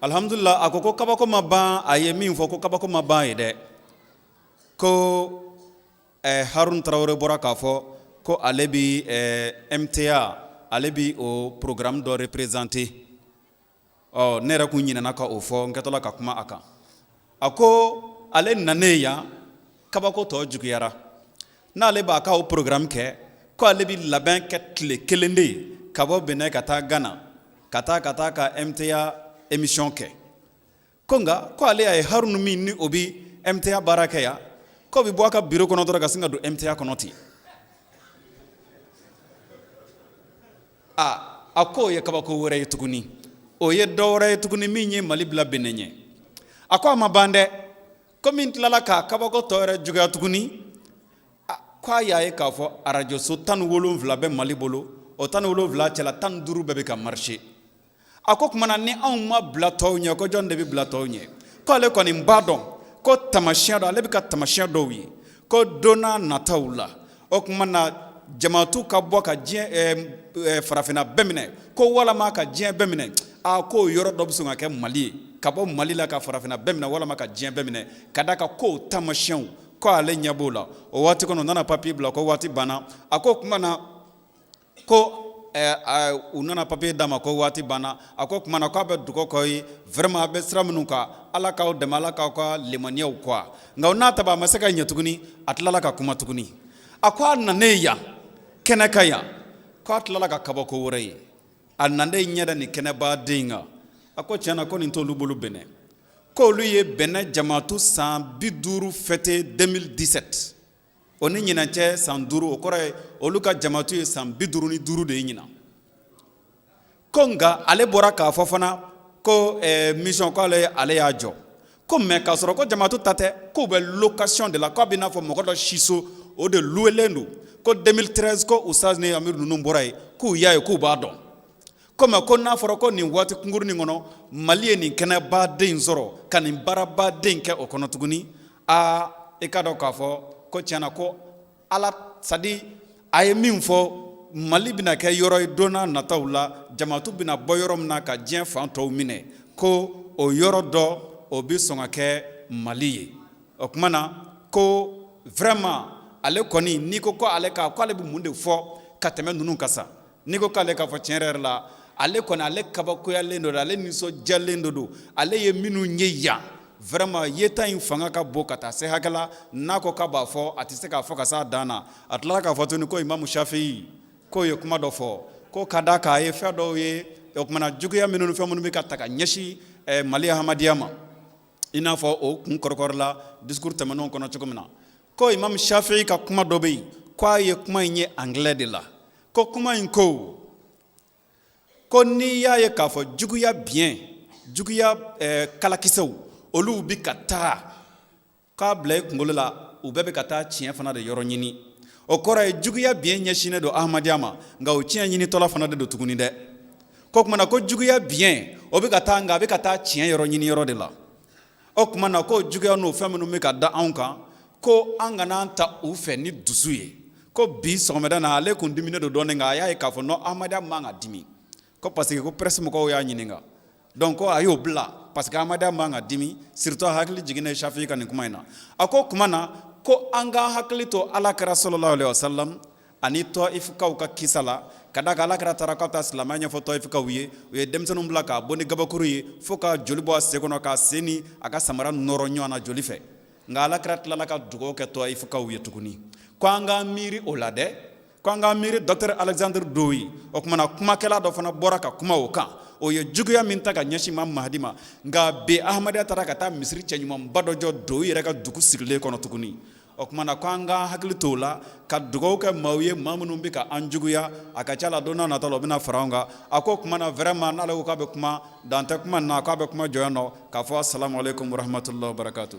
alihamudulila a ko ko kabako ma ban a ye min fɔ ko kabako ma ban ye dɛ ko eh, harun tarawele bɔra k'a fɔ ko ale bi eh, MTA ale bi o programme dɔ représenter ɔ ne yɛrɛ kun ɲinɛna ka o fɔ n kɛtɔla ka kuma a kan a ko ale nanen ye yan kabako tɔ juguyara n'ale b'a ka o programme kɛ ko ale bɛ labɛn kɛ tile kelen de ye ka bɔ Benin ka taa Ghana ka taa ka taa ka MTA émission kɛ ko nka ko ale y'a ye Harunu min ni o bɛ MTA baara kɛ yan k'o bɛ bɔ a ka bureau kɔnɔ dɔrɔn ka sin ka don MTA kɔnɔ ten aa a ko o ye kabako wɛrɛ ye tuguni o ye dɔ wɛrɛ ye tuguni min ye mali bila bene ɲɛ a ko a ma ban dɛ ko min tilala k'a kabako tɔ yɛrɛ juguya tuguni ko a y'a ye k'a fɔ arajoso tan ni wolonwula bɛ mali bolo o tan ni wolonwula cɛla tan ni duuru bɛɛ bɛ ka marcher a ko o tuma na ni anw ma bila tɔw ɲɛ ko jɔn de bɛ bila tɔw ɲɛ k'ale kɔni b'a dɔn ko tamasiyɛn dɔ ale bɛ ka tamasiyɛn dɔw ye ko don nataw la o tuma na jamatu ka bɔ ka diɲɛ eh, eh, farafinna bɛɛ minɛ ko walama ka diɲɛ bɛɛ minɛ a k'o yɔrɔ dɔ bɛ sɔn ka kɛ mali ye ka bɔ mali la ka farafinna bɛɛ minɛ walama ka diɲɛ bɛɛ minɛ ka d'a kan ko tamasiyɛnw ko ale ɲɛ b'o la o waati kɔnɔ u nana papiye bila ko waati banna a ko o tuma na ko u nana papier d'a ma ko waati banna a ko o tuma na k'a bɛ dugawu k'aw ye vraiment a bɛ sira minnu kan Ala k'aw dɛmɛ Ala k'aw ka limaniyaw quoi nka o n'a ta bɛɛ a ma se ka ɲɛ tuguni a tilala ka kuma tuguni a ko a nanen yan kɛnɛ kan yan k'a tilala ka kabako wɛrɛ ye a nanen ɲɛ da nin kɛnɛbaden in kan a ko tiɲɛ na ko nin t'olu bolo Bɛnɛ k'olu ye Bɛnɛ jamatu san bi duuru fêter 2017 o ni ɲinan cɛ san duuru o kɔrɔ ye olu ka jamatu ye san bi duuru ni duuru de ye ɲinan ko nka ale bɔra k'a fɔ fana ko eh, mission ko ale ale y'a jɔ ko mais k'a sɔrɔ ko jamatu ta tɛ k'u bɛ location de la k'a bɛ n'a fɔ mɔgɔ dɔ siso o de louelen don ko 2013 ko Ustaz ni amiru ninnu bɔra yen k'u y'a ye k'u b'a dɔn ko mais ko n'a fɔra ko nin waati kunkurunnin kɔnɔ mali ye nin kɛnɛbaden sɔrɔ ka nin baarabaden kɛ o kɔnɔ tuguni aa i k'a dɔn k'a fɔ ko tiɲɛna ko ala sadi a ye min fɔ mali bɛna kɛ yɔrɔ ye don nataw la jamatu bɛna bɔ yɔrɔ min na ka diɲɛ fan tɔw minɛ ko o yɔrɔ dɔ o bɛ sɔn ka kɛ mali ye o tuma na ko vraiment ale kɔni n'i ko ko ale ka ko ale bɛ mun de fɔ ka tɛmɛ ninnu kan sa n'i ko k'ale k'a fɔ tiɲɛ yɛrɛ la ale kɔni ale kabakoyalen don ale nisɔndiyalen don don ale ye minnu ye yan vraiment yeta in fanga ka bon ka taa se hakɛ la n'a ko k'a b'a fɔ a tɛ se k'a fɔ ka se a dan na a tilala k'a fɔ tuguni ko imamu safii k'o ye kuma dɔ fɔ ko ka d'a kan a ye fɛn dɔw ye o tuma na juguya minnu fɛn minnu bɛ ka ta ka ɲɛsin mali ahmadiya ma i n'a fɔ o kun kɔrɔkɔrɔ la discours tɛmɛnenw kɔnɔ cogo min na ko imamu safii ka kuma dɔ bɛ yen k'a ye kuma in ye anglais de la ko kuma in ko ko n'i y'a ye k'a fɔ juguya biɲɛ juguya eh, kalakisɛw olu bi ka taa k'a bila i kunkolo la u bɛɛ bɛ ka taa tiɲɛ fana de yɔrɔ ɲini o kɔrɔ ye juguya biɲɛ ɲɛsinnen don ahmadiya ma nka o tiɲɛ ɲinitɔla fana de don tuguni dɛ ko kumana ko juguya biɲɛ o bɛ ka taa nka a bɛ ka taa tiɲɛ yɔrɔ ɲini yɔrɔ de la o tuma na ko juguya n'o fɛn minnu bɛ ka da anw kan ko an kana an ta u fɛ ni dusu ye ko bi sɔgɔmada na ale kun diminen don dɔɔnin nka a y'a ye k'a fɔ non ahmadiya man ka dimi ko parce que ko presse mɔgɔw y'a ɲininka donc ko a y'o bila parce que ahmadiya man ka dimi surtout a hakili jiginnen safii ka nin kuma in na a ko o tuma na ko an k'an hakili to ala kira salalahu alayihi wasalam ani tɔyifukaw ka kisa la ka d'a kan ala kira taara ka taa silamɛya ɲɛfɔ tɔyifukaw ye u ye denmisɛnninw bila k'a bon ni gabakuru ye fo ka joli bɔ a sen kɔnɔ k'a sen ni a ka samara nɔrɔ ɲɔgɔn na joli fɛ nka ala kira tilala ka dugawu kɛ tɔyifukaw ye tuguni ko an ka miiri o la dɛ ko an ka miiri docteur alexandre dowie o tuma na kumakɛla dɔ fana bɔra ka kuma o kan o ye juguya min ta ka ɲɛsin imamu mahadi ma nka bi ahmadiya taara ka taa misiri cɛɲumanba dɔ jɔ dowie yɛrɛ ka dugu sigilen kɔnɔ tuguni o tuma na ko an k'an hakili to o la ka dugawu kɛ maaw ye maa minnu bɛ ka an juguya a ka ca la don nata la o bɛna fara an kan a ko o tuma na vraiment n'ale ko k'a bɛ kuma dan tɛ kuma na k'a bɛ kuma jɔ yan nɔ k'a fɔ asalamu aleykum warahamatulahi wabarakatu.